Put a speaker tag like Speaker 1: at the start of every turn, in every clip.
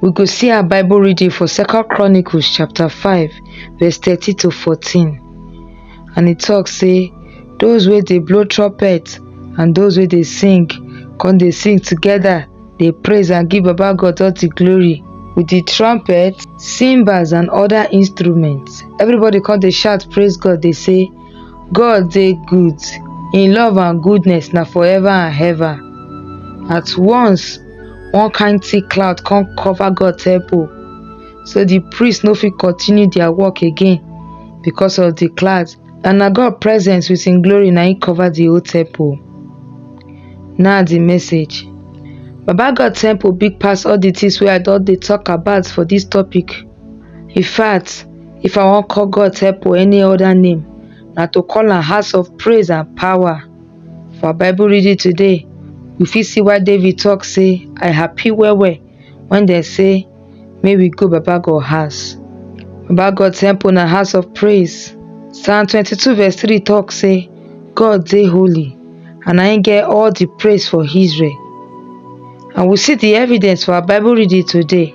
Speaker 1: We go see our Bible reading for Second Chronicles chapter 5 verse 30 to 14. And it talks say those where they blow trumpet and those where they sing come they sing together they praise and give Baba God all the glory with the trumpet, cymbals and other instruments. Everybody come they shout praise God they say God dey good, im love and goodness na for ever and ever. At once, one kind thick cloud come cover God temple, so the priests no fit continue their work again because of the cloud. And na God presence with im glory na im cover the whole temple. Now the message. Baba God temple big pass all the things wey I don dey talk about for this topic. In fact, If I wan call God help or any other name, na to call am house of praise and power. For our Bible reading today, we fit see why David talk say, I happy well well when they say, may we go Baba God house. Baba God temple na house of praise. Psalm 22 verse 3 talk say, God dey holy and I get all the praise for Israel. And we see the evidence for our Bible reading today.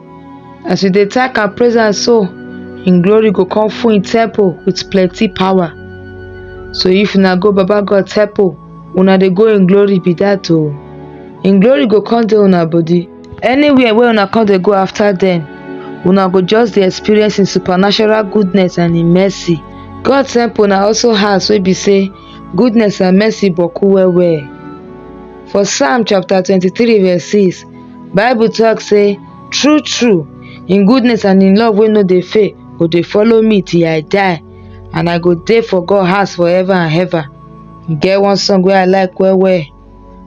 Speaker 1: As you dey thank and praise am so, im glory go come full im temple with plenty power. So if una go Baba God temple, una dey go im glory be that o. Im glory go come dey una body. Anywhere wey una come dey go after dem, una go just dey experience im supernatural goodness and im mercy. God temple na also house wey be say goodness and mercy boku well well. For Psalm chapter twenty-three verse six, Bible talk say, True, true, in goodness and in love wey no dey fail go dey follow me till I die, and I go dey for God house forever and ever. E get one song wey I like well well,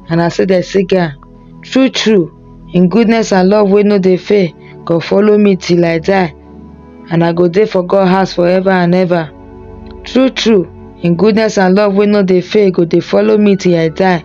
Speaker 1: and I say dem sing am. True, true, in goodness and love wey no dey fail go follow me till I die, and I go dey for God house forever and ever. True, true, in goodness and love wey no dey fail go dey follow me till I die.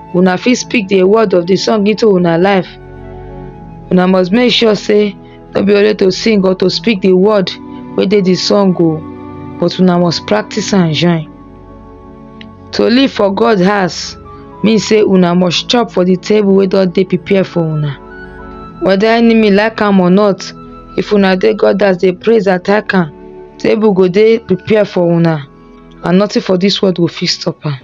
Speaker 1: una fit speak the word of the song into una life una must make sure say no be only to sing or to speak the word wey dey the song o but una must practice am join to live for god house mean say una must chop for the table wey don dey prepare for una whether enemy like am or not if una dey god house dey praise attack am table go dey prepare for una and nothing for this world go fit stop am.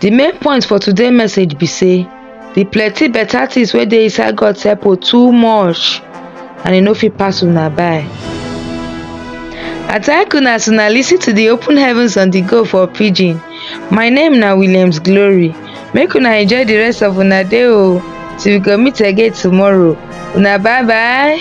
Speaker 1: The main point for today message be say the plenty better things wey dey inside God temple too much and e no fit pass una by. I thank una as una lis ten to the open heavens on the go for pidgin. My name na Williams Glory. Make una enjoy the rest of una day o till we go meet again tomorrow. Una bye bye.